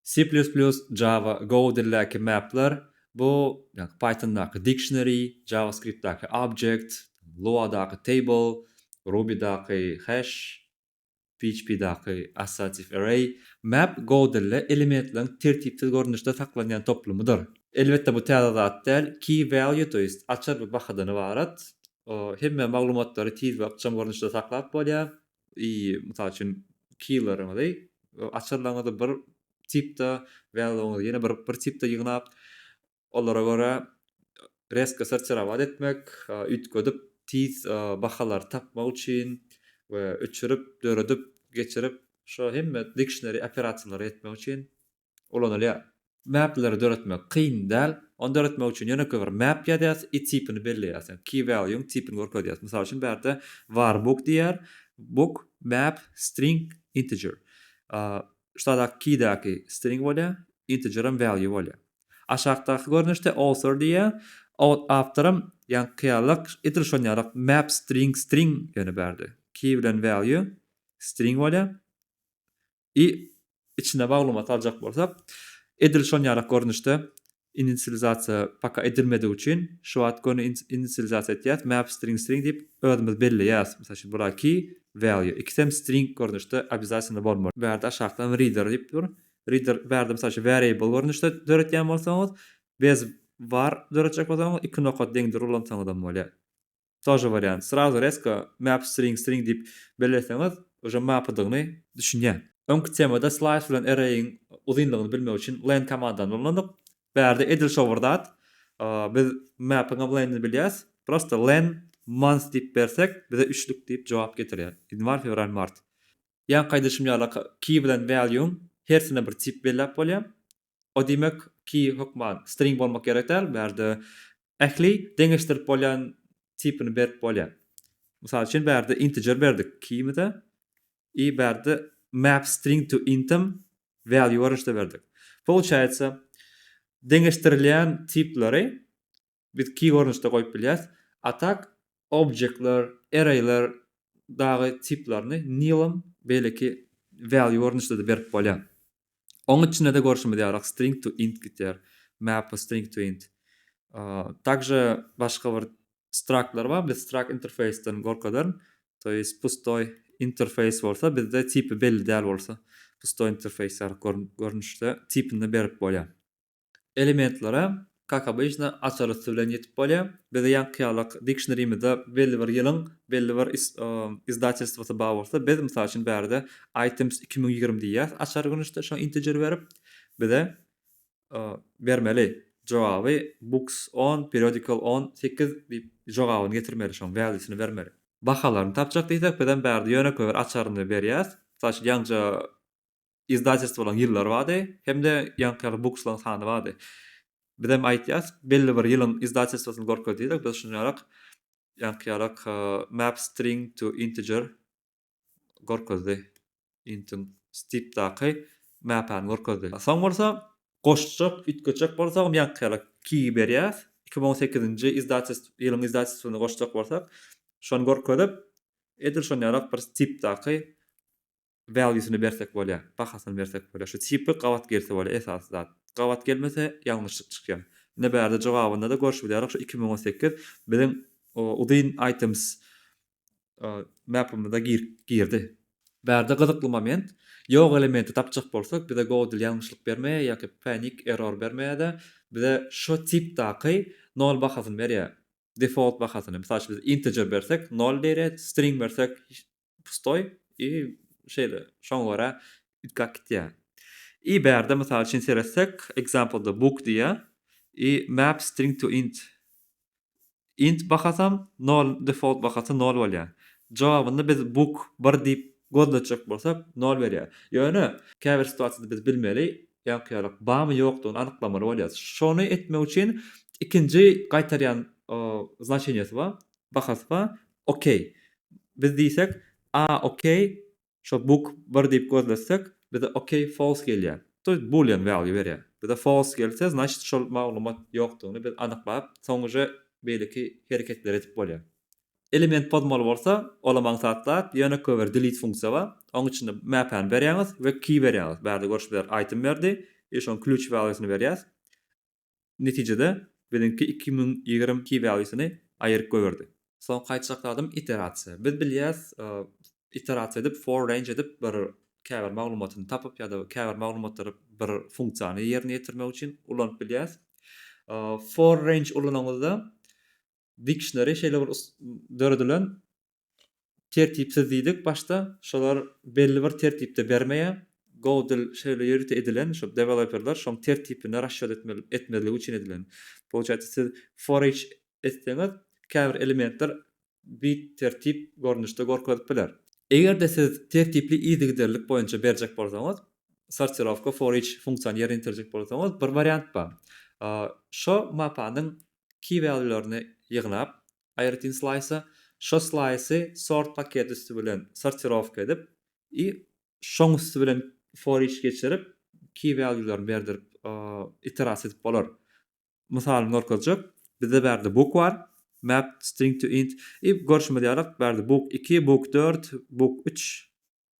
C++, Java, Go dildäki mapler, bu Pythondaky dictionary, JavaScriptdaky object, Luadaky table, Rubydaky hash, PHPdaky associative array. Map Go dilde elementleriň tertipsiz görnüşde saklanýan toplumydyr. Elbetde bu täze zat däl. Key value to ist açar bir bahadan ybarat. Hemme maglumatlary tiz we ykjam görnüşde saklap bolýar. I. Mysal üçin, keýleriňizi, açarlaryňyzy bir tipde, wýaluňyzy ýene bir bir tipde ýygnap, olara görä rezko sortirować etmek, üýtgedip, tiz bahalary tapmak üçin we öçürip, döredip, geçirip, şo hemme dikşneri operasiýalary etmek üçin ulanylýar. Mapleri döretmek kyn däl. Ony döretmek üçin ýönekeý bir map ýazýas i tipini belleýäs. Ýagny key value-yň tipini görkezýäs. Mysal üçin bu ýerde var book diýýär. Book map string integer. Şudaky keydäki string bolýar, integeram value bolýar. Aşakdaky görnüşde author diýýär. Awtoram ýagny kyýalak edil şon ýalak map string string ýöne bu ýerde key bilen value string bolýar. I içine maglumat aljak bolsak, edil şon ýalak görnüşde inisializasiýa paka edilmedigi üçin şu wagt göni inisializasiýa etýäs, map string string diýip özümiz belleýäs. Mysal üçin bura key value ikisem string görnüşde obýazatynda bolmaly. Bärde aşakdan reader diýip dur. Reader bärde mysal üçin variable görnüşde döretýän bolsaňyz, bez var döretjek bolsaňyz iki nokat deňdir ulansaňyzam bolýar. Тоже wariant. Srazu rezko map string string diýip belleseňiz uje mapydygyny düşünýän. Öňki temada slice bilen array'iň uzynlygyny bilmek üçin len komandany ulandyk. Bärde edil şo bir zat. Biz mapyňam lenini bilýäs. Prosta len month diýip bersek bize üçlük diýip jogap getirýär. Ýanwar, fewral, mart. Ýaňky aýdyşym ýaly key bilen value-yň hersine bir tip belläp bolýar. O diýmek, key hökman string bolmak gerek däl, bu ýerde ähli deňeşdirip bolýan tipini berip bolýar. Mysal üçin, bu ýerde integer berdik keyimize i bu ýerde map string to intm value görnüşde berdik. Pouçaýsa, deňeşdirilýän tipleri biz key görnüşde goýup bilýäs. A tak objektler, arrayler dagy tiplaryny nilem beýleki value görnüşde-de berip bolýar. Oň içinde-de görşümiz ýaly string to int gidýär, map string to int. Takže başga bir struktlar bar, biz struct interface-den gorkadaryn. To ýest pustoý interface bolsa bizde tipi belli däl bolsa pustoý interface ýaly görnüşde tipini berip bolýar. Elementlere, kak obyçna, açar üsti bilen ýetip bolýar. Bize ýaňkyýalak dikşnerimize belli bir ýylyň belli bir izdatelstwosy bar bolsa, biz, mysal üçin, bärde items iki müň ýigrimi diýýäs, açar gönüşde şoňa integer berip, bize bermeli jogaby books on, periodical on sekiz diýip jogabyny getirmeli, şoň valuesini bermeli. Bahalaryny tapjak diýsek, bizem bärde ýönekeý bir açaryny berýäs, mysal üçin, ýaňja izdatelstwolaň ýyllary bardy, hem-de ýaňky ýaly bukslaň sany bardy. Bizem aýtýas, belli bir ýylyň izdatelstwosyny görkez diýsek, biz şuny ýarak, ýaňky ýarak Map String to Integer görkezdi. Intiň stipdaky mäpäni görkezdi. Soň bolsa goşjak, üýtgetjek bolsagam ýaňky ýaly key berýäs. Iki müň on sekizinji izdates ýylyň izdatestyny goşjak bolsak, şony görkezip, edil şony ýarak bir stipdaky Value-syny bersek bolýa, bahasyny bersek bolýa. Şu tipi gabat gelse bolýa esasy zat. Gabat gelmese ýalňyşlyk çykýar. Ine bärde jogabynda-da görşüp bilýärik şu iki müň on sekiz biziň uzyn items mapymyza girdi. Bärde gyzykly moment, ýok elementi tapjak bolsak bize Godel ýalňyşlyk bermeýär ýa-ki panic error bermeýär-de bize şo tipdaky nol bahasyny berýär. Default bahasyny. Mysal üçin biz integer bersek nol berýär, string bersek pustoý i şeýle şoňa görä üýtgäp gitýär i bärde mysal üçin seretsek example da book diýýär i map string to int int bahasam nol default bahasy nol bolýar jogabynda biz book bir diýip gözletjek bolsak nol berýär ýöne käbir situasiýada biz bilmeli ýaňky ýalyk barmy ýokdugyny anyklamaly bolýarys şony etmek üçin ikinji gaýtarýan znaçeniýasy bar bahasy bar Okey. Biz diýsek, A okey, şo book bir diýip gözletsek, bize okey false gelýär. To jest boolean value berýär. Bize false gelse, znaçt şol maglumat ýokdugyny biz anyklap, soň uje beýleki hereketleri edip bolýar. Element pozmaly bolsa, olam aňsat zat, ýöne köber delete funksiýa bar. Oň içinde map-any berýäňiz we key berýäňiz. Bärde görşüpler item berdi, biz şoň klýuç value-syny berýäs. Netijede, biziňki iki müň ýigrimi iki valusyny aýyryp goýberdi. Soňky aýtjak zadym iterasiýa. Biz bilýäs, iterasiýa edip, for range edip bir käbir maglumatyny tapyp ýa-da käbir maglumatlary bir funksiýany ýerine ýetirmek üçin ulanyp bilýäs. For range ulanyňyzda dictionary şeýle bir döredilen, Tertipsiz diýdik başda, şolar belli bir tertipde bermeýär. Go dil şeýle ýörite edilen, şo deweloperler şoň tertipini rasşad etmeli etmezligi üçin edilen. Pouçaýsa siz for each etseňiz, käbir elementler bittertip görnüşde gorkezip biler. Eger-de siz tertipli yzygiderlilik boýunça berjek bolsaňyz, sortirowka for each funksiýany ýerine ýetirjek bolsaňyz, bir wariant bar. Şo mapanyň key-valýularyny ýygnap, Aýratyn slaýsa, şo slaýsy sort paketi üsti bilen sortirowka edip i şoň üsti bilen for each geçirip key value-laryny berdirip iterasiýa edip bolar. Mysalyny görkezjek. Bizde bärde book bar, map string to int i görşümiz ýaly bärde book iki, book dört, book üç,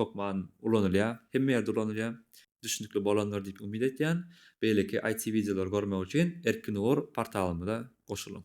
hökman ulanylýar, hemme ýerde ulanylýar. Düşnükli bolandyr diýip umyt etýän. Beýleki IT wideolary görmek üçin Erkin Ugur portalymyza goşulyň.